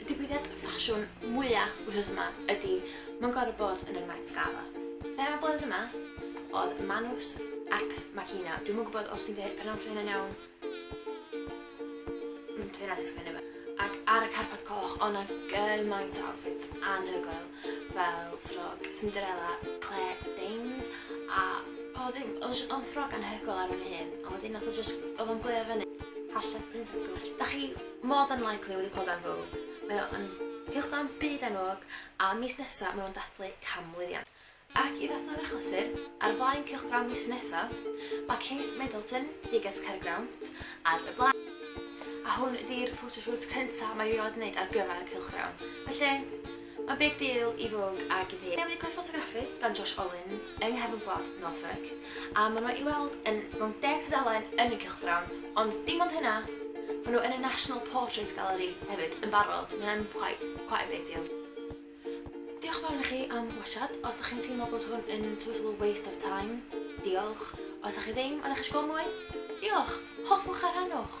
Y digwyddiad ffasiwn mwya wythnos yma ydi Mae'n Gorfod Bod yn y Met Gala. Thema blwyddyn yma oedd Manus Ex Machina. Dwi'm yn gwybod os dwi'n dweud pronouncio hynna'n iawn. Mm, dwi'n edrych sgwini fe. Ac ar y carpad coch, ond na gymaint o outfits anhygoel fel ffrog Cinderella, Claire Danes a o ddim, oedd jyst o'n ffrog anhygoel ar hyn hyn, a wedyn nath o jyst, oedd o'n gleo fyny. Hashtag princess girl. Da chi More than likely wedi clywed am Vogue. Mae o yn cylchgrawn byd enwog a mis nesa ma' nhw'n dathlu canmlwyddiant. Ac i ddathlu'r achlysur, ar flaen cylchgrawn mis nesa, ma' Kate Middleton, Diggers Caergrawnt, ar y blaen. A hwn ydi'r photoshoot cynta mae hi 'rioed 'neud ar gyfer y cylchgrawn. Felly, A big deal i Vogue ag i fi. Newydd gweld ffotograffi gan Josh Ollins yng nghefn gwlad Norfolk, a maen nhw i weld yn mewn deg tudalen yn y cylchgrawn, ond dim ond hynna, maen nhw yn y National Portrait Gallery hefyd yn barod, mae hynna'n quite, quite a big deal. Diolch yn fawr i chi am watsiad, os da chi'n teimlo bod hwn yn total waste of time, diolch, os da chi ddim a da chi eisiau gweld mwy, diolch, hoffwch a rhannwch!